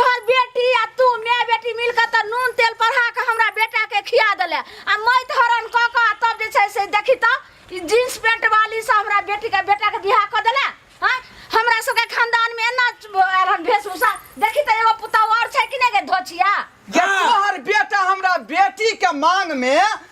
तोहर बेटी आ तू माय बेटी मिल कऽ तऽ नून तेल पढ़ा कऽ हमरा बेटा के खिया देले आ मैत हरण कऽ कऽ आ तब जे छै से देखी तऽ ई जींस पैंट वाली से हमरा बेटी के बेटा के बियाह कऽ देले हाँ हमरा सबके खानदान में एना आयल हन वेशभूषा देखी तऽ एगो पुतहु और छै कि नहीं गे धोछिया गे तोहर बेटा हमरा बेटी के मांग में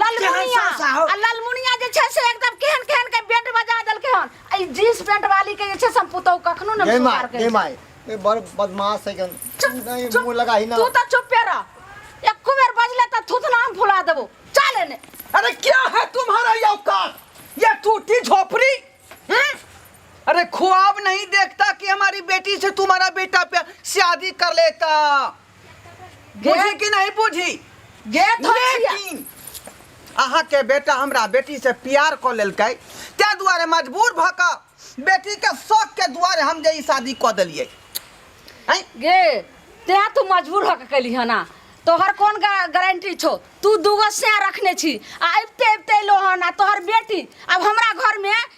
ललमुनिया सास आओ। आ ललमुनिया जे छै से एकदम केहन केहन के बेट बजा देलकै हन आ ई जींस पेंट वाली के जे छै से हम पुतौ कखनो ने जय माय सुधार के जय माय ए बड़ बदमाश है गन चुप, नहीं चुप। मुंह लगा ही ना तू तो चुपे रह एको बेर बजले त थुथना हम फुला देबो चल एने अरे क्या है तुम्हारा ये औकात ये टूटी झोपड़ी हैं? अरे ख्वाब नहीं देखता कि हमारी बेटी से तुम्हारा बेटा पे शादी कर लेता बुझी कि नहीं बुझी गेट हो छिया। लेकिन अहाँ के बेटा हमरा बेटी से प्यार क लेलकै ते दुआरे मजबूर भ क बेटी के शौक के दुआरे हम जे ई शादी क देलिए हैं गे तें तू मजबूर होके कैली है ना तोहर कौन गा- गारंटी छो तू दूगो से रखने छी आ अबते अबते लो है ना तोहर बेटी अब हमरा घर में